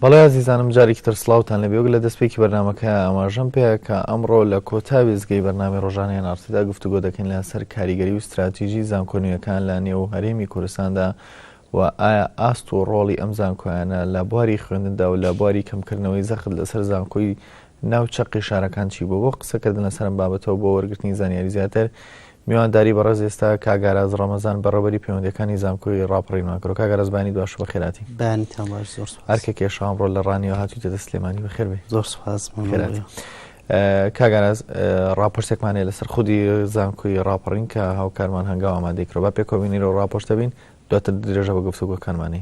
بەڵێ ئازیزانم جارێکی تر سلااوان لە بێوگ لە دەستپێکی بەرنمەکە ئاماژەم پێ کە ئەمڕۆ لە کۆتا وێزگەی بەرنامی ڕۆژانیان نارتیدا گفتوگۆ دەکەین لە سەر کاریگەری و استراتیژی زانکۆنیەکان لە نێو هەرێمی کوردستاندا و ئایا ئاست و ڕۆڵی ئەم زانکۆیانە لە بواری خوێندندا و لە بواری کەمکردنەوەی زەخت لەسەر زانکۆی ناو چەقی شارەکان چی بۆ بۆ قسەکردن لەسەرم بابەتەوە بۆ وەرگرتنی زانیاری زیاتر میوانداری بەڕێز ئێستا کاک ئاراس ڕەمەزان بە ڕێبەری پەیوەندیەکانی زانکۆی ڕاپەڕینمان کرد کاک ئاراس بەیانی دواش بەخێراتی بەیانیتان باش زۆر سپاس ئەرکە کێشا ئەمڕۆ لە ڕانیەوە هاتوویتەتە سلێمانی بەخێر بێ زۆر سپاس خێراتی کاک ئاراس ڕاپرسێکمانەیە لەسەر خودی زانکۆی ڕاپەڕین کە هاوکارمان هەنگاو ئامادەی کرۆ بە پێکەوە بینیرەوە ڕاپۆشتە بین دواتر درێژە بە گفتوگۆکانمانی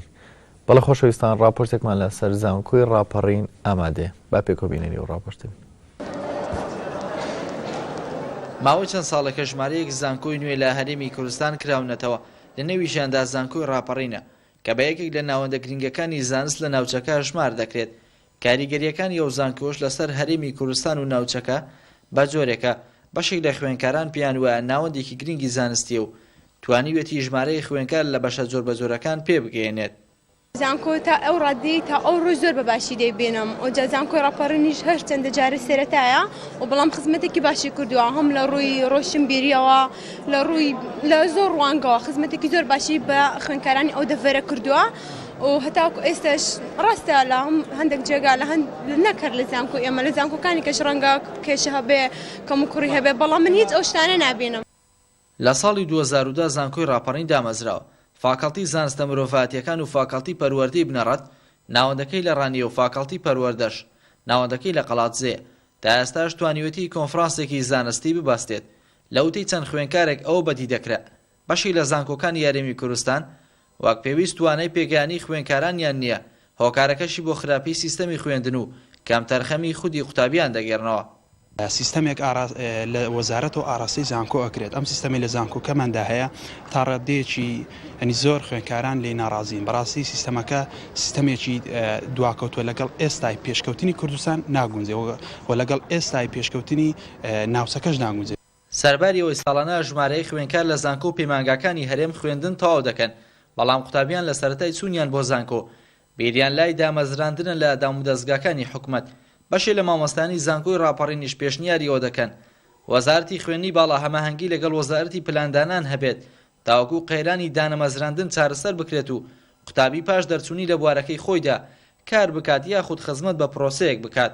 بەڵێ خۆشەویستان ڕاپۆرتێکمان لە سەر زانکۆی ڕاپەڕین ئامادەیە با پێکەوە بینەری ئەو ڕاپۆرتە بین. ماوەی چەند ساڵێکە ژمارەیەک زانکۆی نوێ لە هەرێمی کوردستان کراونەتەوە، لە نێویشیاندا زانکۆی ڕاپەڕینە، کە بە یەکێک لە ناوەندە گرنگەکانی زانست لە ناوچەکە هەژمار دەکرێت، کاریگەرییەکانی ئەو زانکۆش لەسەر هەرێمی کوردستان و ناوچەکە بە جۆرێکە، بەشێک لە خوێندکاران پێیان وایە ناوەندێکی گرنگی زانستییە و توانیوێتی ژمارەی خوێندکار لە بەشە جۆربەجۆرەکان پێ بگەیەنێت. زانکۆ تا ئەو ڕاددەی تا ئەو ڕۆژ زۆر بە باشی دەیبینم و جا زانکۆی ڕاپەڕینیش هەر چەندە جارێ سەرەتایە و بەڵام خزمەتێکی باشی کردووە هەم لە ڕووی ڕۆشنبیرییەوە لە ڕووی لە زۆر ڕوانگەوە خزمەتێکی زۆر باشی بە خوێندکارانی ئەو دەڤەرە کردووە. و هەتاکو ئێستاش ڕاستە لە هەندێک جێگا لە هەند نەک هەر لە زانکۆ ئێمە لە زانکۆکانی کەش ڕەنگە کێشە هەبێ کەم و کوڕی هەبێ بەڵام من هیچ ئەو شتانە نابینم. لە ساڵی دوو هەزار و دە زانکۆی ڕاپەڕین دامەزرا و فاکەڵتی زانستە مرۆڤایەتییەکان و فاکەڵتی پەروەردەی بنەڕەت ناوەندەکەی لە ڕانیە و فاکەڵتی پەروەردەش ناوەندەکەی لە قەڵادزێیە. تا ئێستاش توانیوەتی کۆنفرانسێکی زانستی ببەستێت. لە وتەی چەند خوێنکارێک ئەوە بەدی دەکرا. بەشی لە زانکۆکانی هەرێمی کورستان وەک پێویست توانای پێگەیانی خوێنکارانیان نییە، هۆکارەکەشی بۆ خراپی سیستەمی خوێندن و کەم تەرخەمی خودی قوتابیان دەگێرنەوە. سیستەمێک لە وەزارەتەوە ئاراستەی زانکۆ ئەکرێت، ئەم سیستەمەی لە زانکۆکەماندا هەیە تا ڕاددەیەکی یەنی زۆر خوێنکاران لێی ناڕازین، بەڕاستی سیستەمەکە سیستەمێکی دواکەوتوە لەگەڵ ئێستای پێشکەوتنی کوردستان ناگونجێ و لەگەڵ ئێستای پێشکەوتنی ناوچەکەش ناگونجێ. سەرباری ئەوەی ساڵانە ژمارەی خوێندکار لە زانکۆ و پەیمانگاکانی هەرێم خوێندن تەواو دەکەن، بەڵام قوتابیان لە سەرەتای چوونیان بۆ زانکۆ، بیریان لای دامەزراندنە لە دامودەزگاکانی حکومەت، بەشێ لە مامۆستایانی زانکۆی ڕاپەڕینیش پێشنیاری ئەوە دەکەن، وەزارەتی خوێندنی باڵا هەماهەنگی لەگەڵ وەزارەتی پلاندانان هەبێت، تاوەکو قەیرانی دانەمەزراندن چارەسەر بکرێت و قوتابی پاش دەرچوونی لە بوارەکەی خۆیدا، کار بکات یاخود خزمەت بە پرۆسەیەک بکات.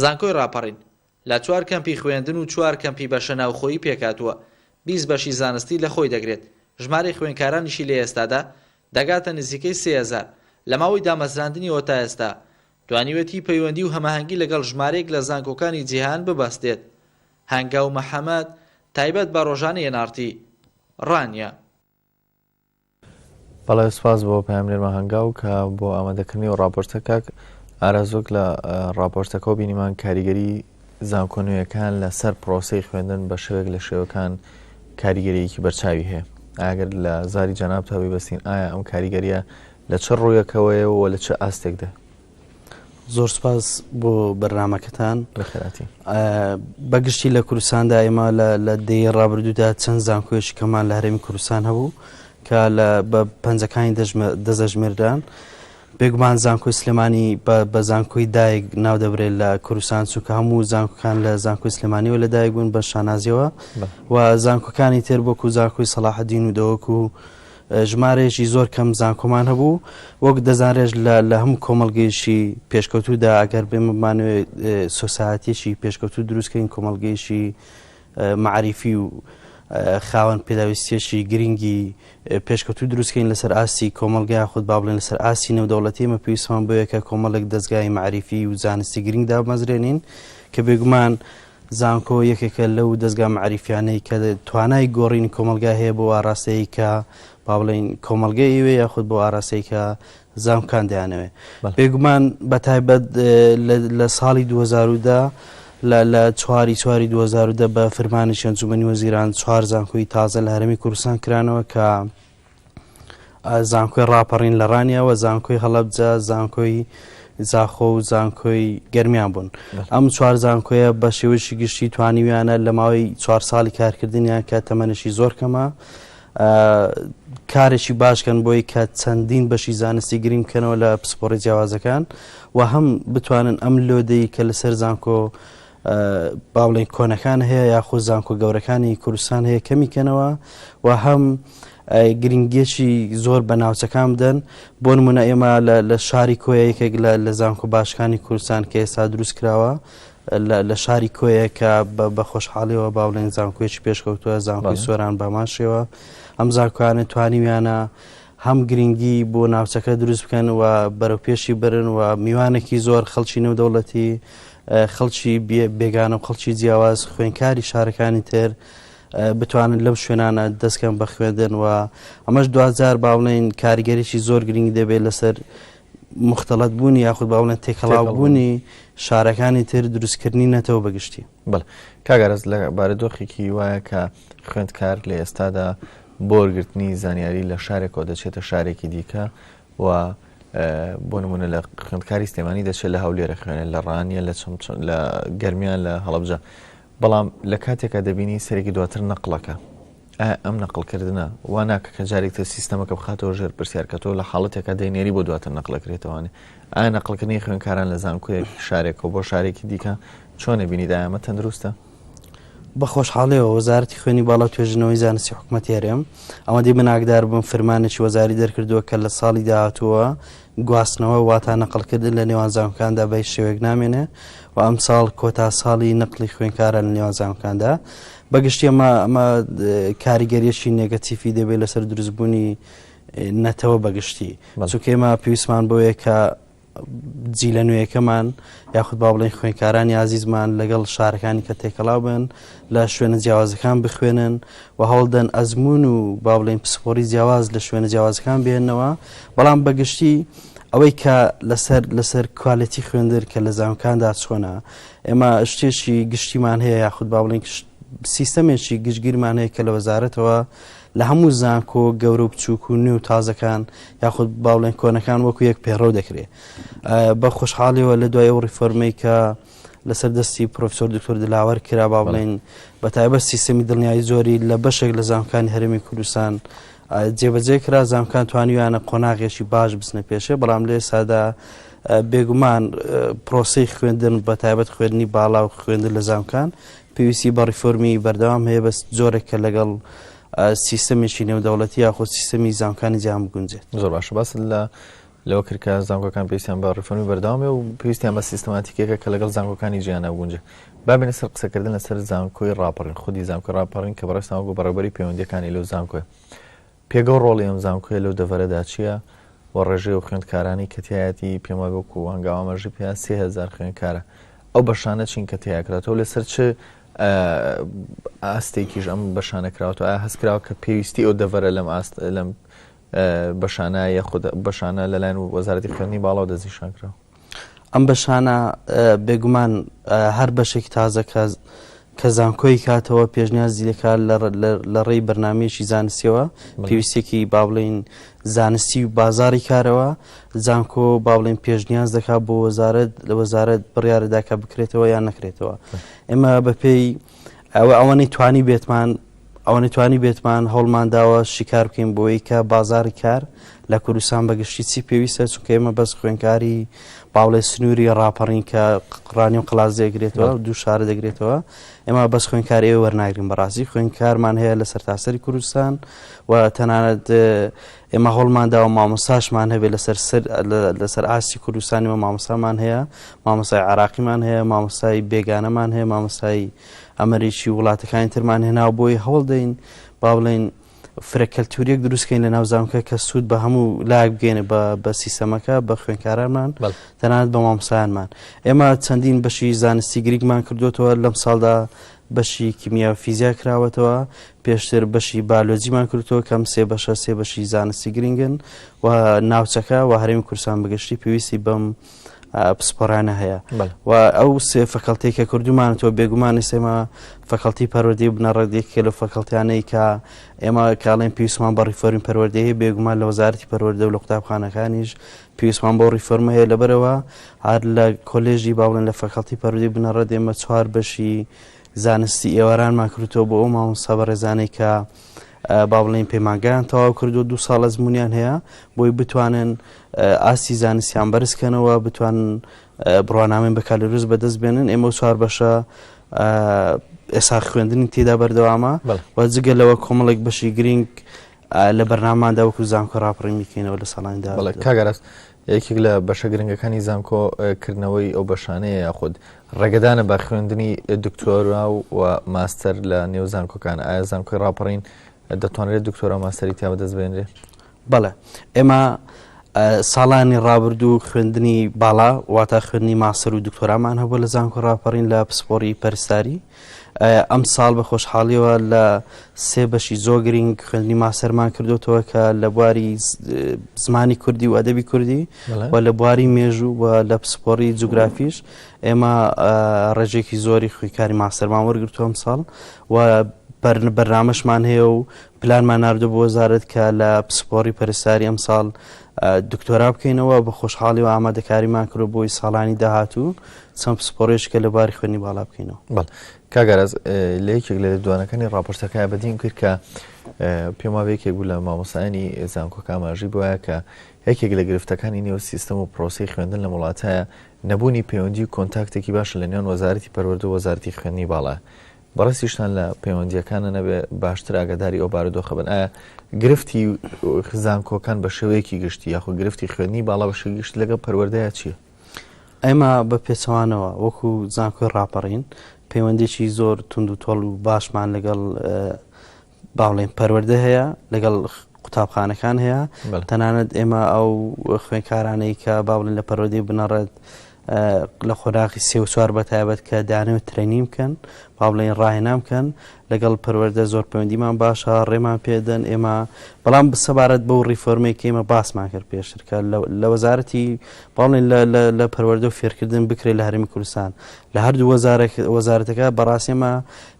زانکۆی ڕاپەڕین لە چوار کەمپی خوێندن و چوار کەمپی بەشە ناوخۆیی پێکهاتووە، بیست بەشی زانستی لە خۆی دەگرێت، ژمارەی خوێندکارانیشی لە ئێستادا دەگاتە نزیکەی سێ هەزار، لە ماوەی دامەزراندنیەوە تا ئێستا توانیوێتی پەیوەندی و هەماهەنگی لەگەڵ ژمارەیەک لە زانکۆکانی جیهان ببەستێت. هەنگاو محەمەد، تایبەت بە ڕۆژانەی ئێن ئاڕ تی. ڕانیە. بەڵێ سوپاس بۆ پەیامنێرمان هەنگاو کە بۆ ئامادەکردنی و ڕاپۆرتە کاک ئارازۆک لە ڕاپۆرتەکە و بینیمان کاریگەری زانکۆ نوێیەکان لەسەر پرۆسی خوێندن بە شێوێک لە شێوەکان کاریگەریەکی بەرچاوی هەیە ئاگەر لە زاری جەنابتەوەی بەستین ئایا ئەم کاریگەریە لە چ ڕوویەکەوەیە و لە چ ئاستێکدا زۆر سپاس بۆ بەرنمەکەتان بەخراتی بەگشتی لە کوردستاندا ئێمە لە دەی ڕابردوودا چەند زانکۆێش کەمان لە هەرێمی کوردستان هەبوو کە لە بە پەنجەکانی دەزەژمێردان بێگومان زانکۆی سلێمانی بە زانکۆی دایک ناو دەبرێت لە کوردستان چونکە هەموو زانکۆکان لە زانکۆی سلێمانیەوە لە دایک بوون بە شانازیەوە و زانکۆکانی تر بۆکو زانکۆی سەلاحدین و دەوەکو و ژمارەیەکی زۆر کەم زانکۆمان هەبوو، وەک دەزانرێت لە هەموو کۆمەڵگەیەکی پێشکەوتوودا ئەگەر بێمە بمانەوێت سۆسایەتیەکی پێشکەوتوو دروستکەین کۆمەڵگەیەکی معریفی و خاوەن پێداویستیەکی گرنگی پێشکەوتوو دروستکەین لەسەر ئاستی کۆمەلگای خود با بڵێن لەسەر ئاستی نەودەوڵەتی مە پێویستمان بۆیەکە کۆمەڵێک دەستگای معریفی و زانستی گرنگ دامەزرێنین کە بێگومان زانکۆ یەکێکە لەو دەزگا مەعریفیانەی کە توانای گۆڕینی کۆمەلگا هەیە بۆ ئاراستەی کە با بڵین کۆمەلگە ئیوێ یاخود بۆ ئاراستەی کە زانکان دەیانەوێ بێگومان بە تایبەت لە ساڵی 2010 لە چواری چواری 2010 بە فرمانی شەنجومنی وەزیران چوار زانکۆی تازە لە هەرمی کوردستان کرانەوە کە زانکۆی ڕاپەڕین لە ڕانیەوە زانکۆی هەڵەبجە زانکۆی زاخۆ و زانکۆی گەرمیان بوون ئەم چوار زانکۆیە بە شێوەیەکی گشتی توانیویانە لە ماوەی چوار ساڵی کارکردنیان کە تەمەنشی زۆر کەمە کارێکی باشکەن بۆی کە چەندین بەشی زانستی گریم بکەنەوە لە پسپۆڕی جیاوازەکان و هەم بتوانن ئەم لۆدەی کە لەسەر زانکۆ باڵێ کۆنەکان هەیە یاخود زانکۆ گەورەکانی کوردستان هەیە کەمی کەنەوە و هەم گرنگێکی زۆر بە ناوچەکان بدەن بۆ نمونە ئێمە لە شاری کۆیە یەکێک لە زانکۆ باشەکانی کوردستان کە ئێستا دروست کراوە لە شاری کۆیە کە بە خۆشحاڵیەوە باڵێن زانکۆێکی پێشکەوتووە زانکۆی سۆران باماشەوە ئەم زانکۆیانە توانیویانە هەم گرنگی بۆ ناوچەکە دروست بکەن و بەرەوپێشی برن و میوانێکی زۆر خەڵکی نێودەوڵەتی خەڵکی بێگانە و خەڵکی جیاواز خوێنکاری شارەکانی تر بتوانن لەم شوێنانە دەستکەم بە خوێندن و ئەمەش دوجار باڵێن کاریگەریی زۆر گرنگی دەبێت لەسەر مختلت بوونی یاخود باڵێن تێکەڵاوبوونی شارەکانی تر دروستکردنی نەتەوە بەگشتی بڵ کاگەرز لە بارە دۆخێکی وایە کە خوێندکار لە ئێستادا بۆ وەرگرتنی زانیاری لە شارێکەوە دەچێتە شارێکی دیکە و بۆ نمونە لە خوێندکاری سلێمانی دەچێت لە هەولێرە خوێنە لە ڕانیە لە لە گەرمیان لە هەڵبجە بەڵام لە کاتێکا دەبینی سەرێکی دواتر نەقلەکە ئەم نەقلکردە وا ناکە کە جارێک تر سیستەمەکە بخاتەوە ژێر پرسیارکەەوە لە حاڵەتێکا دەینێری بۆ دواتر نەقلەکرێتەوەێ ئایا نەقلکردنی خوێنکاران لە زانکوێک شارێکەوە بۆ شارێکی دیکە چۆنە بینی دایمە تەندروستە بە خۆشحاڵیەوە وەزارەتی خوێنی باڵا توێژنەوەی زانستی حکوومەت هەرێم ئەمە دی بناکدار بووم فرمانێکی وەزاری دەرکردووە کە لە ساڵی داهاتووە گواستنەوە واتا نەقلکردن لە نێوان زانکاندا بە شێوێک نامێنێ و ئەم ساڵ کۆتا ساڵی نقلی خوێنکارە لە نێوان زانکاندا بەگشتی ئەمە ئەمە کاریگەریەکی نێگەتیفی دەبێت لەسەر دروستبوونی نەتەوە بەگشتی چونکەێمە پێویستمان بۆیە کە جیلە نوێیەکەمان یاخود با بڵێن خوێنکارانی ئازیزمان لەگەڵ شارەکانی کە تێکەڵاو بن لە شوێنە جیاوازەکان بخوێنن و هەوڵدەن ئەزمون و با بڵێن پسپۆری جیاواز لە شوێنە جیاوازەکان بێنەوە بەڵام بەگشتی ئەوەی کە لەسەر لەسەر کوالەتی خوێندر کە لە زانکاندا چۆنە ئێمە شتێکی گشتیمان هەیە یاخود با بڵێن سیستەمێکی گشتگیرمان هەیە کە لە وەزارەتەوە لە هەموو زانکۆ گەورە و بچووک و نوێ و تازەکان یاخود باڵێن کۆنەکان وەکو یەک پێڕۆ دەکرێت بە خۆشحاڵیەوە لە دوای ئەو ڕیفۆرمەی کە لەسەر دەستی پرۆفسۆر دکتۆر دلاوەر کرا با بڵێن بە تایبەت سیستەمی دڵنیایی زۆری لە بەشێک لە زانکانی هەرمی کوردستان جێبەجێ کرا زانکان توانیویانە قۆناغێکی باش بچنە پێشێ بەڵام لێ سادا بێگومان پرۆسی خوێندن بە تایبەت خوێندنی باڵا و خوێندن لە زانکان پێویستی بە ڕیفۆرمی بەردەوام هەیە بەس جۆرێک کە لەگەڵ سیستەمێکی نێودەوڵەتی یاخود سیستەمی زانکانی جیان بگونجێت زۆر باشە باس لە لەوە کردکە زانکۆکان پێویستیان بە ڕفۆنی بەرداوامێ و پێویستیان بە سیستماتیکێکە کە لەگەڵ زانکۆکانی جیانە گونج بابێنە سەر قسەکردن لەسەر زانکۆی ڕاپەڕین خودی زانکۆ ڕاپەڕین کە بەڕێستان وەگو بەڕێبەری پەیوەندەکانی لەو زانکۆی پێگە و ڕۆڵی ئەم زانکۆیە لەو دەڤەرەدا چییە و ڕێژەی و خوێندکارانەی کە تیایەتی، پێم وایە وەکو هەنگاو ئاماژەی پێا سێ هەزار خوێنکارە، ئەو بەشانە چین کە تیا کراتەوە لەسەر چ ئاستێکیش ئەم بەشانە کراوەتەوە، ئایا هەست کراوە کە پێویستی ئەو دەڤەرە لەم ئاست لەم بەشانە یاخود بەشانە لەلایەن وەزارەتی خوێندنی باڵا و دەستنیشان کراوە؟ ئەم بەشانە بێگومان هەر بەشێکی تازە کە کە زانکۆی کاتەوە پێشنیازی دەکات لە ڕێی بەرنمەیەکی زانستیەوە پێویستێکی با بڵین زانستی و بازاری کارەوە زانکۆ با بڵین پێشنیاز دەکات بۆ وەزارت لە وەزارت بڕیارداکە بکرێتەوە یان نەکرێتەوە ئێمە بەپێی ئەوە ئەوەنەی توانی بێتمان ئەوەنەی توانی بێتمان هەوڵمان داوە شیکار بکەین بۆی کە بازاری کار لە کوردستان بەگشتی چی پێویستە چونکە ئێمە بەس خوێنکاری باڵێ سنووری ڕاپەڕین کە قڕانی و قلاس دەگرێتەوە دوو شارە دەگرێتەوە ئێمە بەس خوێنکار ئێوە وەرناگرین بەڕاستی خوێنکارمان هەیە لە سەرتاسەری کوردستان و تەنانەت ئێمە هەوڵمان داوە مامۆستاشمان هەبێت لەسەر سەر لەسەر ئاستی کوردستانی و مامۆستامان هەیە مامۆستای عراقیمان هەیە مامۆستای بێگانەمان هەیە مامۆستایی ئەمریکی وڵاتەکانی ترمان هێناو بۆی هەوڵ دەین با بڵین فرەکەلتوریەک دروستکەین لە ناوزانکە کە سوود بە هەموو لاک بگەێنە بە بە سیستەمەکە بە خوێنکارانمان تەنانەت بە مامسانمان ئێمە چەندین بەشی زانستی گریکمان کردوتەوە لەم ساڵدا بەشی کیمیا فیزیا کراوەتەوە پێشتر بەشی بایۆلۆجیمان کردووە کەم سێ بەشە سێ بەشی زانستی گرنگن و ناوچەکە و هەرێمی کورسان بگەشتی پێویستی بەم پسپۆرانە هەیە و ئەو سێ فەکەڵتی کە کردومان تۆ بێگومانی سێمە فەکەڵتی پەروەدەی بنەڕەتێک کە لە فەکەڵتیانەی کە ئێمە کاڵێن پێویستمان بە ڕیفۆرین پەروەردەیە بێگومان لە وەزارتی پەروەردە و لە قوتابخانەکانیش پێویستمان بۆ ڕیفۆرمە هەیە لەبەرەوە هەر لە کۆلێژی باڵێن لە فەکەڵتی پەرودی بنەڕەت ئێمە چوار بەشی زانستی ئێوارانمان کردوتەوە بۆ ئەو مامۆستا بەڕێزانەی کە با بڵێن پەیمانگایان تەواو کردو دو ساڵ ئەزمونیان هەیە بۆی بتوانن ئاستی زانستیان بەرزکەنەوە بتوان بڕوانامەین بەکالریوز بەدەست بێنن ئێمە چوار بەشە ئێسا خوێندنی تێدا بەردەوامە و جگە لەوە کۆمەڵێک بەشی گرنگ لە بەرناماندا وەکو زانکۆ راپڕی میکەینەوە لە ساڵاندا کاگەرست یەکێک لە بەشە گرنگەکانی زانکۆ کردنەوەی ئەو بەشانەیە یاخود ڕێگەدانە بە خوێندنی دکتۆرا و ماستەر لە نێو زانکۆکان ئایا زانکۆی ڕاپەڕین دەتوانرێت دکتۆرا و ماستەری تیا بەدەست بێنرێ بەڵێ ئێمە ساڵانی ڕابردوو خوێندنی باڵا واتە خوێندنی ماسەر و دکتۆرامان هەبوو لە زانکۆ ڕاپەڕین لە پسپۆری پەرستاری ئەمساڵ بە خۆشحاڵیەوە لە سێ بەشی زۆر گرینگ خوێندنی ماسەرمان کردوتەوە کە لە بواری زمانی کوردی و ئەدەبی کوردی و لە بواری مێژوو و لە پسپۆری جوگرافیش ئێمە ڕێژێکی زۆری خویکاری ماسەرمان وەرگتووە ئەمساڵ و بەرنامەشمان هەیە و پلانمان نردو بۆ وەزارت کە لە پسپۆری پەرساری ئەمساڵ دکتۆرا بکەینەوە، بە خۆشحاڵی و ئامادەکاریمان کردووە بۆی ساڵانی داهاتوو چەند پسپۆڕیشکە لە باری خوێنی باڵا بکەینەوە. بەڵێ کاک ئاراس لە یەکێک لە لێدوانەکانی ڕاپۆرتەکەیان بەدیم کرد کە پێم وابێ یەکێک بوو لە مامۆستایانی زانکۆکە ئاماژەی بۆ وایە کە یەکێک لە گرفتەکانی نێو سیستەم و پرۆسەی خوێندن لەم وڵاتە نەبوونی پەیوەندی و کۆنتاکتێکی باشە لە نێوان وەزارەتی پەروەردە و وەزارەتی خوێندنی باڵا بەڕێزیشتان لە پەیوەندییەکانە نەبێ باشتر ئاگاداری ئەو بارودۆخە بن ئایا گرفتی زانکۆکان بە شێوەیەکی گشتی یاخود گرفتی خوێنی باڵا بە شێوەی گشت لەگەڵ پەروەردەیە چییە؟ ئێمە بە پێچەوانەوە وەکو زانکۆی ڕاپەڕین پەیوەندێکی زۆر تونند و تۆڵ و باشمان لەگەڵ باڵێن پەروەردە هەیە لەگەڵ قوتابخانەکان هەیە تەنانەت ئێمە ئەو خوێنکارانەی کە باڵێن لە پەرۆدی بنەڕێت لە خۆراقی سێ و چوار بە تایبەت کە دانێ و ترێنی بکەن باڵێن ڕاهێنام بکەن لەگەڵ پەروەەردە زۆر پەیوەندیمان باشە ڕێمان پێدەن ئێمە بەڵام بسەبارەت بەو ڕیفۆرمێک ئێمە باسمان کرد پێشترکە لە وەزارەتی باڵێن لە پەروەەردە و فێرکردن بکرێت لە هەرمی کوردستان لە هەردوو وەزارەکە بەڕاستێمە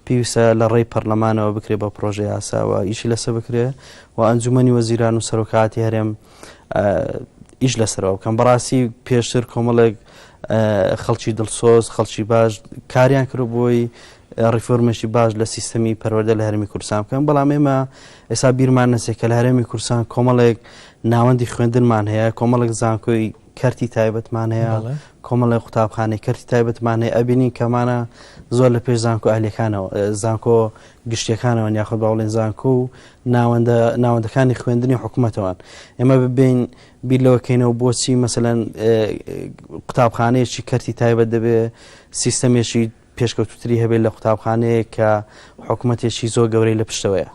پێویستە لە ڕێی پەرلەمانەوە بکرێت بە پڕۆژەیاسا و ئیشی لەسەر بکرێ و ئەنجومنی وەزیران و سەرۆکاتی هەرێم ئیش لەسەرەوە بکەم بەڕاستی پێشتر کۆمەڵێک خەڵکی دڵسۆز خەڵکی باش کاریان کرد بۆی ڕیفۆرمێکی باش لە سیستەمی پەروەدە لە هەرمی کورسان بکەن بەڵام ئێمە ئێستا بیرمان نەسێ کە لە هەرێمی کورسان کۆمەڵێک ناوەندی خوێندنمان هەیە کۆمەڵێک زانکۆی کەرتی تایبەتمان هەیە کۆمەڵی قوتابخانەی کەرتی تایبەتمان هەیە ئەبینین کەمانە زۆر لە پێش زانکۆ ئەهلەکانەوە زانکۆ گشتەکانەوە یاخود باوڵێن زانکۆ و ناوەندە ناوەندەکانی خوێندنی حکوومەتەوەن ئێمە ببین بیر لەوەکەینەوە بۆچی مەمثلەن قوتابخانەیەکی کەرتی تایبەت دەبێ سیستەمێکی پێشکەوتووتری هەبێت لە قوتابخانەیەک کە حکومەتێکی زۆر گەورەی لە پشتەوەیە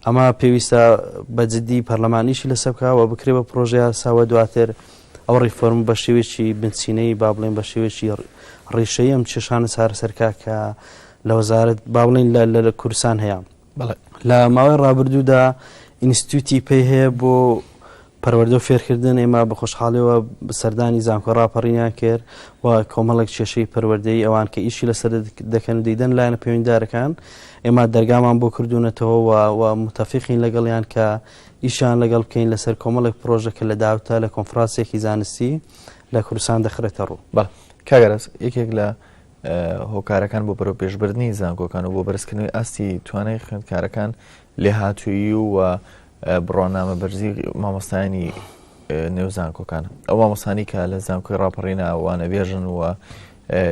ئەمە پێویستە بە جددی پەرلەمانیشی لەسەر بکەوە بکرێ بە پرۆژەیە ساوە دواتر ئەو ڕیفۆرم بە شێوێکی بنچینەی با بڵێن بە شێوێکی ڕیشەی ئەم چێشانە چارەسەرکە کە لە وەزارت با بڵین لە کوردستان هەیە بەڵێ لە ماوەی ڕابردوودا ئینستیتوتی پێی هەیە بۆ پەروەردە و فێرکردن ئێمە بە خۆشحاڵەوە سەردانی زانکۆ ڕاپەڕینیان کرد و کۆمەڵێک کێشەی پەروەردەی ئەوان کە ئیشی لەسەر دەکەن و دیدەن لایەنە پەیوەنددارەکان ئێمە دەرگامان بۆ کردوونەتەوە و متەفقین لەگەڵیان کە ئیشان لەگەڵ بکەین لەسەر کۆمەڵێک پرۆژە کە لە داوتە لە کۆنفراسێکی زانستی لە کوردستان دەخرێتە ڕوو بە کاگەرز یەکێک لە هۆکارەکان بۆ بەرەوپێشبردنی زانکۆکان و بۆ بەرزکردنەوەی ئاستی توانای خوێندکارەکان لێهاتوویی و بڕوانامە بەرزی مامۆستایانی نێو زانکۆکان ئەو مامۆسانی کە لە زانکۆی ڕاپەڕینا وانە بێژن و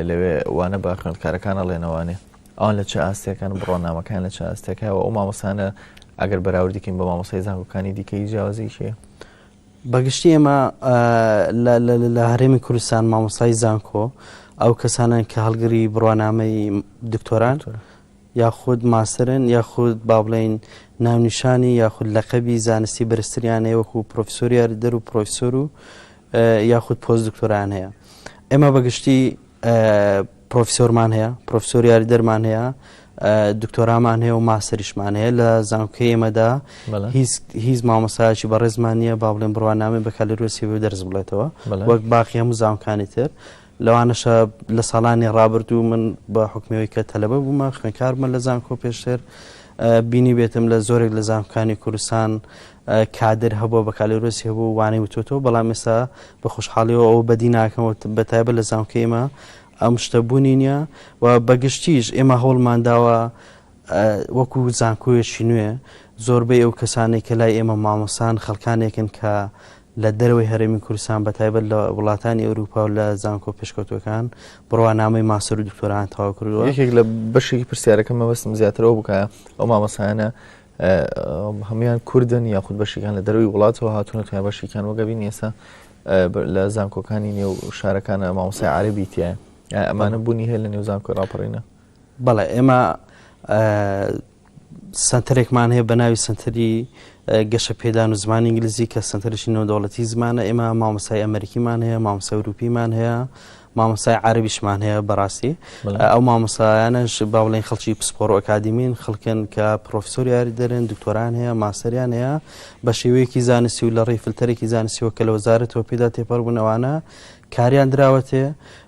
لەوێ وانە بە خوێندکارەکانە ڵێنەوانێ ئەوان لە چ ئاستەکان بڕۆنامەکان لە چ ئاستەکەەوە ئەو مامۆسانە ئەگەر بەراوردیکەین بە مامۆسای زانکۆکانی دیکەی جیاوازیشێ بە گشتی ئێمە لە هەرێمی کوردستان مامۆستای زانکۆ ئەو کەسانن کە هەڵگری بڕوانامەی دکتۆران یاخود ماسرن یاخود با بڵین ناونیشانی یاخود لەقەبی زانستی بەرزتریانەیە وەکو پرۆفسۆریار دەر و پرۆفسۆر و یاخود پۆست دکتۆران هەیە ئێمە بەگشتی پرۆفیسۆرمان هەیە، پرۆفیسۆر یاریدەرمان هەیە، دکتۆرامان هەیە و ماستەریشمان هەیە لە زانکۆی ئێمەدا بەڵێ. هیچ هیچ مامۆستایەکی بەڕێزمان نییە با بڵێن بڕوانامەی بەکالۆریۆسی بۆ دەرس بڵێتەوە بەڵێ. وەک باقی هەموو زانکانی تر لەوانەشە لە ساڵانی ڕابردوو من بە حکمەوەی کە تەلەبە بوومە خوێنکارمە لە زانکۆ پێشتر ئە، بینی بێتم لە زۆرێک لە زانکانی کوردستان کادر هەبوە بەکالۆرۆسی هەبوو وانەی وتۆتەوە بەڵام ئێستا بە خۆشحاڵیەوە ئەوە بەدی ناکەمەوە بەتایبە لە زانکە ئێمە ئەم شتە بوونی نیە و بەگشتیش ئێمە هەوڵمانداوە وەکو زانکۆیەشی نوێ زۆربەی ئەو کەسانێک کە لای ئێمە مامۆسان خەڵکانێکن کە لە دەرەوەی هەرێمی کوردستان بە تایبەت لە وڵاتانی ئەوروپا و لە زانکۆ پێشکەوتوەکان بڕوانامەی ماسەر و دکتۆران تاوا کردووە یەکێک لە بەشێکی پرسیارەکە مەبەستم زیاترەوە بکە ئەو مامەسانە هەموان کوردن یاخود بەشیکان لە دەروی وڵاتەوە هاتونەتە بەشیکان وەگەبین ئێستا لە زانکۆکانی نێو شارەکانە مامۆسای عربی تایە ئەمانە بوونی هەیە لە نێو زانکۆی ڕاپەڕینە بەڵێ ئێمە سنتەرێکمان هەیە بە ناوی سنتەری گەشە پێدان و زمانی ئینگلیزی کە سنتەرشی نەودەوڵەتی زمانە ئێمە مامۆسای ئەمریکیمان هەیە مامۆسای وروپیمان هەیە مامۆستای عەرەبیشمان هەیە بەڕاستی ئەو مامۆسایانەش باڵێن خەڵکی پسپۆڕ و ئەکادیمین خەڵکن کە پرۆفسۆر یاری دەرێن دکتۆران هەیە ماسەریان هەیە بە شێوەیەکی زانستی و لە ڕێی فلتەرێکی زانستیەوە کە لە وەزارەتەوە پێدا تێپەڕبوونەوانە کاریان دراوەتێ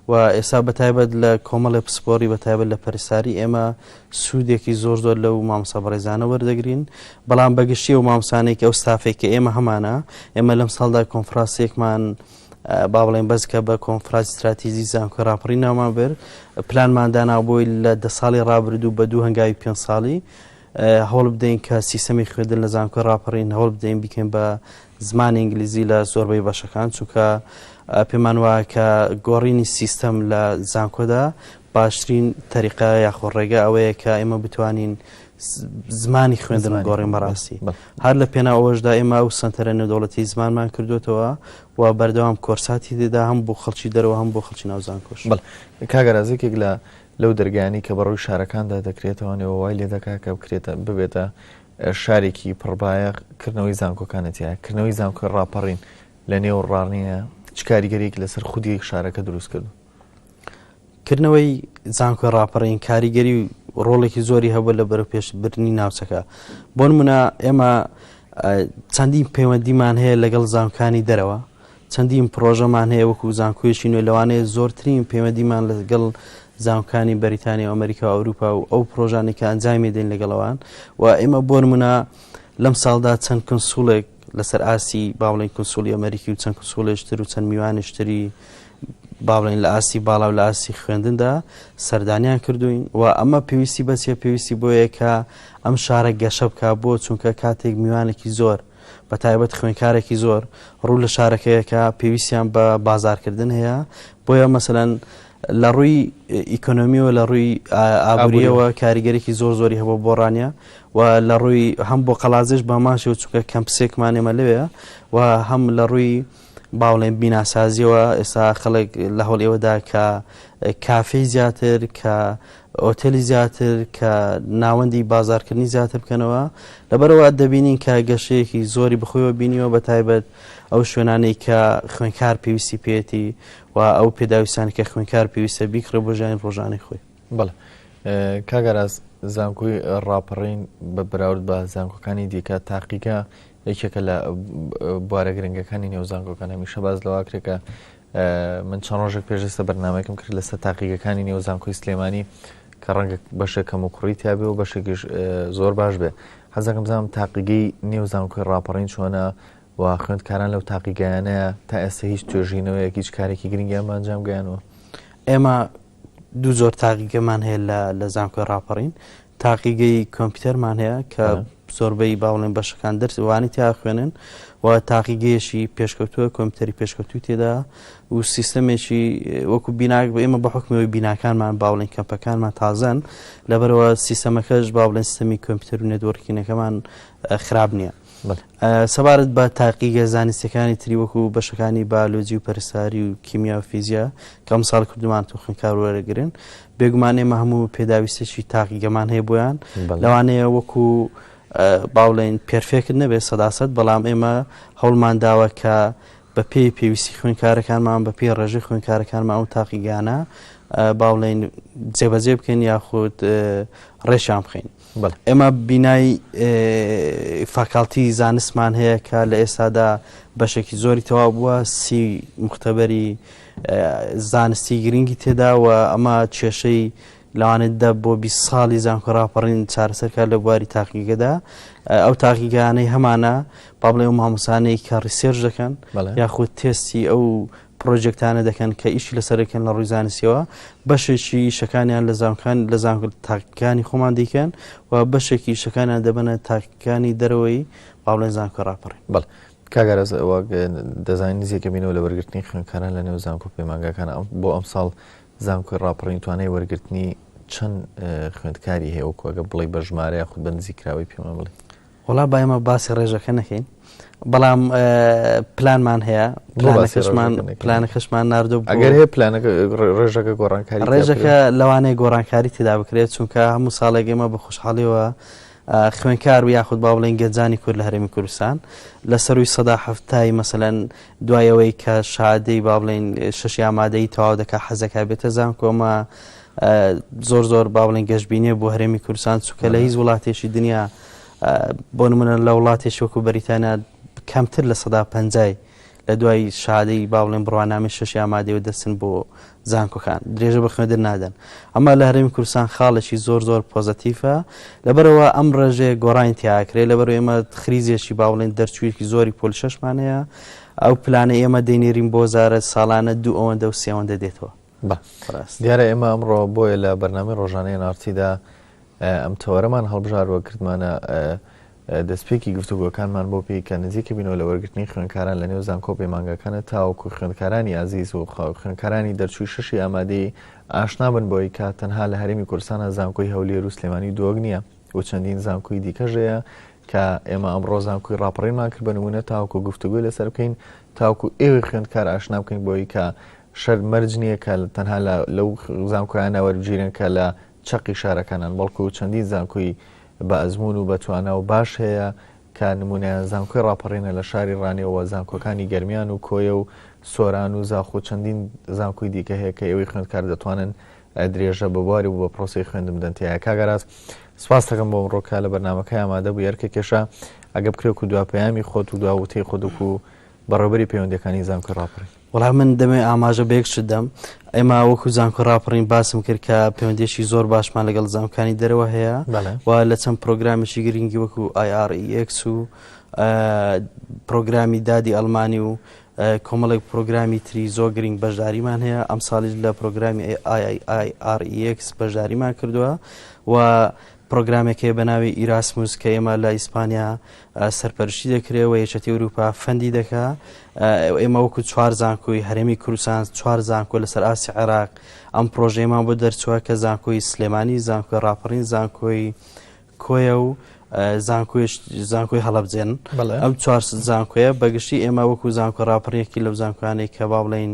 و ئێستا بەتایبەت لە کۆمەڵی پسپۆری بەتایبەت لە پەرساری ئێمە سوودێکی زۆر زۆر لەو مامسا بەڕێزانە وەردەگرین بەڵام بەگشتی و مامسانێک ئەو ستافێک کە ئێمە هەمانە ئێمە لەم ساڵدا کۆنفراسێکمان با بڵێین بەس کە بە کۆنفراج ستراتیزی زانکۆی راپەڕی ناومان بر پلانمان داناو بۆی لە دە ساڵی رابردوو بە دوو هەنگاوی پێ ساڵی هەوڵ بدەین کە سیستەمی خوێندن لە زانکۆی راپەڕین هەوڵ بدەین بکەین بە زمانی ئینگلیزی لە زۆربەی بەشەکان چونکە پێمان وایە کە گۆڕینی سیستەم لە زانکۆدا باشترین تەریقا یاخۆ ڕێگە ئەوەیە کە ئێمە بتوانین زمانی خوێندن و گۆڕین بەڕاستی هەر لە پێناو ئەوەشدا ئێمە ئەو سەنتەرە نێودەوڵەتی زمانمان کردوێتەوە و بەردەوام کۆرساتی دێدا هەم بۆ خەڵکی دەرەوە هەم بۆ خەڵکی ناوزان کۆش بڵ کاگەرازێکێک لە لەو دەرگانی کە بەڕووی شارەکاندا دەکرێتەوە نێوە وای لێ دەکا کە بکرێتە ببێتە شارێکی پڕبایە کردنەوەی زانکۆکانەتە کردنەوەی زانکۆی ڕاپەڕین لە نێو ڕاڕنیە چ کاریگەرێک لەسەر خودی شارەکە دروست کردو کردنەوەی زانکۆی ڕاپەڕین کاریگەری و ڕۆڵێکی زۆری هەبوو لە بەرە پێشبردننی ناوچەکە بۆ منە ئێمە چەندین پەیوەندیمان هەیە لەگەڵ زانکانی دەرەوە چەندین پرۆژەمان هەیە وەکو زانکۆیشی نوێ لەوانەیە زۆرترین پەیوەندیمان لەگەڵ زانکانی بەریتانی و ئەمریکا و ئەوروپا و ئەو پرۆژانی کە ئەنجامی دێن لەگەڵەوان و ئێمە بۆن منە لەم ساڵدا چەند کنسوڵێک لەسەر ئاستی باڵین کنسولی ئەمریکی و چەند کنسولێش تر و چەند میوانش تری باڵێن لە ئاستی باڵا و لە ئاستی خوێندندا سەردانیان کردوین و ئەمە پێویستی بەچیە پێویستی بۆیە کە ئەم شارە گەشە بکە بۆ چونکە کاتێک میوانێکی زۆر بە تایبەت خوێنکارێکی زۆر ڕوو لە شارەکەیەکە پێویستیان بە بازارکردن هەیە بۆیە مەسەەن لە ڕووی ئیکۆنۆمی و لە ڕووی ئابوورییەوە کاریگەریی زۆر زۆری هەبوو بۆ ڕانیە و لە ڕووی هەم بۆ قەڵادزێش بە هەمان شێوە چونکە کەمپسێکمان ئێمە لەوێیە و هەم لە ڕووی با بڵێین بیناسازیەوە ئێستا خەڵک لە هەوڵ ئێوەدا کە کافی زیاتر کە ئۆتێلی زیاتر کە ناوەندی بازارکردنی زیاتر بکەنەوە لەبەرەوە دەبینین کە گەشەیەکی زۆری بخۆیەوە بینیوە بە تایبەت ئەو شوێنانەی کە خوێنکار پێویستی پێێتی و ئەو پێداویستانە کە خوێنکار پێویستە بیکڕێ بۆ ژانی ڕۆژانەی خۆی بڵێ کاگەراز زانکۆی ڕاپەڕین بە براورد بە زانکۆکانی دیکە تاقیگە یەکێکە لە بوارە گرنگەکانی نێو زانکۆکان هەمیشە باز لەواکرێکە من چەند ڕۆژێک پێشێستە بەرنمەکەم کرد لەسەر تاقیگەکانی نێو زانکۆی سلێمانی کە ڕەنگە بەشێک کەم و کوڕی تیاابێ و بەشێکیش زۆر باش بێ حەزەکەم بزانام تاقیگەی نێو زانکۆی ڕاپەڕین چۆنە و خوێندکاران لەو تاقیگەیانەیە تا ئێستا هیچ توێژینەوەیەک هیچ کارێکی گرنگیان بە ئەنجام گەیانەوە ئێمە دوو زۆر تاقیگەمان هەیە لە لە زانکۆی ڕاپەڕین تاقیگەی کۆمپیوتەرمان هەیە کە زۆربەی باوڵێن بەشەکان دەرسوانی تیا خوێنن و تاقیگەیەشی پێشکەوتووە کۆمپیوتەری پێشکەوتوی تێدا و سیستەمێکی وەکو بیناک بە ئێمە بە حکمەوەی بیناکانمان باوڵین کەمپەکانمان تازەن لەبەرەوە سیستەمەکەش باوڵێن سیستەمی کۆمپیوتەر و نێدوەڕکینەکەمان خراپ نییە. سەبارەت بە تاقیگە زانستیەکانی تری وەکو بەشەکانی بالۆجی و پەرساری و کیمیا و فیزیا کە ئەمساڵ کردومان توخنکار وەرەگرن بێگومان ئێمە هەموو پێداویستێکی تاقیگەمان هەیە بۆیان لەوانەیە وەکو باڵێن پرفێکت نەبێت سەداست بەڵام ئێمە هەوڵمان داوە کە بە پێی پێویستی خوێنکارەکانمان بە پێی ڕێژەی خوێنکارەکانمان ئەو تاقیگانە باڵێن جێبەجێ بکەین یاخود ڕێشان بخەین. بەڵێ ئێمە بینای فاکاڵتی زانستمان هەیە کە لە ئێستادا بەشێکی زۆری تەواو بووە سی مختبەری زانستی گرنگی تێداوە ئەمە کێشەی لەوانێت دە بۆ بی ساڵی زانکۆ راپەڕین چارەسەرکە لە بواری تاقیگەدا ئەو تاقیگانەی هەمانە پابڵێ و مامۆسانەی کە ڕیسێرش دەکەن یاخود تێستی ئەو پڕۆجێکتانە دەکەن کە ئیشی لەسەرەکەن لە ڕووی زانستیەوە بەشێکی شەکانیان لە زانکان لە زانکرد تاکەکانی خۆمان دیکەن و بەشێکی شەکانیان دەبنە تاکەکانی دەرەوەی باڵێن زانکۆ ڕاپەڕی بڵ کاگەرەز ئەوە دەزانین نزیکە بینەوە لە وەرگرتنی خوێنکاران لە نێو زانکۆ پەیمانگاکان ئەم بۆ ئەم ساڵ زانکۆی ڕاپەڕین توانای وەرگرتنی چەند خوێندکاری هەیە وەکوگە بڵی بە ژمارەیە خود بە نزیکراوی پێمان بڵێ وەڵا با ئێمە باسی ڕێژەکە نەکەین بەڵام پلانمان هەیە پلانەکەشمان پلانەکەشمان نردو ئەگەر هەیە پلانەکە ڕێژەکە گۆڕانکاری ڕێژەکە لەوانەیە گۆڕانکاری تێدا بکرێت چونکە هەموو ساڵێک ئێمە بە خوشحاڵیەوە خوێنکار و یاخود با بڵێن گەنجانی کورد لە هەرمی کوردستان لە سەروی سەدا هەفتایی مەسەەن دوایەوەی کە شادەی با بڵێن شش یامادەی تەواو دەکە حەزەکە بێتە زان کۆمە زۆر زۆر با بڵێن گەشتبینێ بۆ هەرێمی کوردستان چووکە لە هیچ وڵاتێکی دنیا بۆ نمونە لە وڵاتێکی وەکو بەریتانیا کەمتر لە سەدا پەنجای لە دوای شادەی باڵێن بڕوانامی شەشی ئامادەوە دەچن بۆ زانکۆکان درێژە بە خوێندن نادەن ئەمە لە هەرێمی کوردستان خاڵێکی زۆر زۆر پۆزەتیفە لەبەرەوە ئەم ڕێژێ گۆڕین تیاکرێت لەبەر ئێمە خریزێکی باڵێن دەرچوویەکی زۆری پۆل شەشمانەیە ئەو پلانە ئێمە دەینێرین بۆ زارە ساڵانە دوو ئەوەندە و سێوەندە دێتەوە بە ڕاست دیارە ئێمە ئەمڕۆ بۆیە لە بەرنامی ڕۆژانەی نارتیدا ئەم تەوەرەمان هەڵبژاروە کردمانە دەستپێکی گفتوگۆکانمان بۆ پێی کە نزیکە بینەوە لە وەرگرتنی خوێنکاران لە نێو زانکۆ پەیمانگەکانە تاوەکو خوێندکارانی ئازیز و خوێنکارانی دەرچووی شەشی ئامادەی ئاشنابن بۆی کە تەنها لە هەرمی کورسانە زانکۆی هەولێر و سلێمانی دۆگ نییە و چەندین زانکۆی دیکەژەیە کە ئێمە ئەم ڕۆزانکوی ڕاپەڕینمان کرد بە نمونە تاوکو گفتوگوی لەسەر بکەین تاوکو ئێوەی خوێندکار ئاشنا بکەین بۆی کە شەر مەرج نییە کە تەنها لە لەو زانکۆیانە وەربگیرێن کە لە چەقی شارەکانن، بەڵکو چەندین زانکۆی بە ئەزموون و بەتوانا و باش هەیە کە نموونەیان زانکۆی ڕاپەڕینە لە شاری ڕانیە و زانکۆکانی گەرمیان و کۆیە و سۆران و زاخۆ چەندین زانکۆی دیکە هەیە کە ئێوەی خوێندکار دەتوانن درێژە بە بواری و بە پرۆسەی خوێندن بدەن تیایا کاک ئاراس سپاست دەکەم بۆ ئەمڕۆ کە لە بەرنمەکەی ئامادە بوو یەرکە کێشە ئەگە بکرێت و دوا پەیامی خۆت و دوا وتەی خۆت وکو بەڕێوبەری پەیوەندەکانی زانکۆی ڕاپەڕین وەڵا من دەمێ ئاماژە بە یەک شت دەم ئێمە وەکو زانکۆ ڕاپەڕین باسم کرد کە پەیوەندێکی زۆر باشمان لەگەڵ زانکانی دەرەوە هەیە و لە چەند پرۆگرامێکی گرنگی وەکو IREX و پرۆگرامی دادی ئەلمانی و کۆمەڵێک پرۆگرامی تری زۆر گرنگ بەشداریمان هەیە ئەم ساڵیش لە پرۆگرامی IREX بەشداریمان کردووە و پڕۆگرامێک هەیە بە ناوی ئیراسموس کە ئێمە لە ئیسپانیا سەرپەرشتی دەکرێ و یەکێتی ئەوروپا فەندی دەکا ئێمە وەکو چوار زانکۆی هەرێمی کوردستان چوار زانکۆ لەسەر ئاستی عێراق ئەم پرۆژەیەمان بۆ دەرچووە کە زانکۆی سلێمانی زانکۆی ڕاپەڕین زانکۆی کۆیە و زانکۆی هەڵبجێن ئەم چوار زانکۆیە بەگشتی ئێمە وەکو زانکۆ ڕاپڕێکی لەو زانکۆیانەی کە با بڵین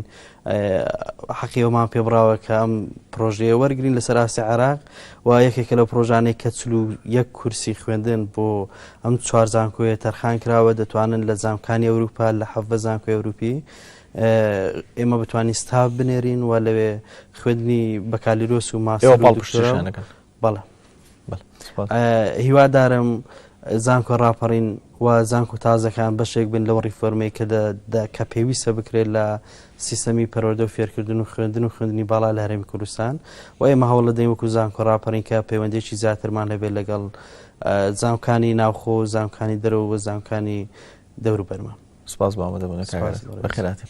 حەقی ئەومان پێ بڕاوە کە ئەم پرۆژەیە وەرگین لەسەر ئاستی عراق و یەکێکە لەو پرۆژانەی کە چلو یەک کورسی خوێندن بۆ ئەم چوار زانکۆیە تەرخان کراوە دەتوانن لە زانکانی ئەوروپا لە حەڤە زانکۆی ئەوروپی ئێمە بتوانین ستاف بنێرین و لەوێ خوێندنی بەکالیرۆس و ماسەوە پاڵپشتیشانەکەن بەڵێ بەڵێ هیوادارم زانکۆ ڕاپەڕین و زانکو تازەکان بەشێک بن لەو ڕیفۆرمەی کە کە پێویستە بکرێت لە سیستەمی پەرۆدە و فێرکردن و خوێندن و خوێندنی باڵا لە هەرێمی کوردستان و ئێمە هەوڵ لە دەیوەکو زانکۆ ڕاپەڕین کە پەیوەندێکی زیاترمان هەبێت لەگەڵ زانکانی ناوخۆ و زانکانی دەرەوە و زانکانی دەوروبەرمان سپاس بۆ ئامادەبوونە کاکە بەخێراتێ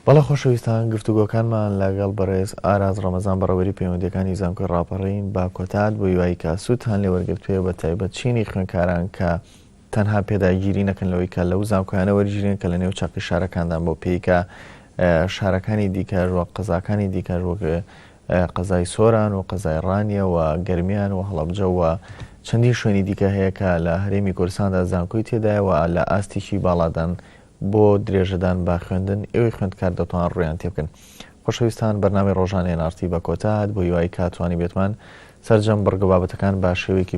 بەڵێ خۆشەویستان گفتوگۆکانمان لەگەڵ بەڕێز ئاراز ڕەمەزان بەڕەوەری پەیوەندەکانی زانکۆی ڕاپەڕین با کۆتات بۆ یوایی کاسووت هەان لێوەرگرتوێ بە تایبەت چینی خوێنکاران کە تەنها پێداگیری نەکەن لەوەی کە لەو زانکۆیانە وەرگیرێن کە لە نێو چاقی شارەکاندان بۆ پێیکە شارەکانی دیکەر وە قەزاکانی دیکەر وەک قەزای سۆران و قەزای ڕانیە و گەرمیان و هەڵەبجە و چەندین شوێنی دیکە هەیە کە لە هەرێمی کوردستاندا زانکۆی تێدایە و لە ئاستیکی باڵادان بۆ درێژەدان بە خوێندن ئێوەی خوێندکار دەتوان ڕویان تێ بکەن خۆشەویستان بەرنامی ڕۆژانێ نارتی بە کۆتات بۆ یوای کاتوانی بێتمان سەرجەم بڕگە بابەتەکان بە شێوەیەکی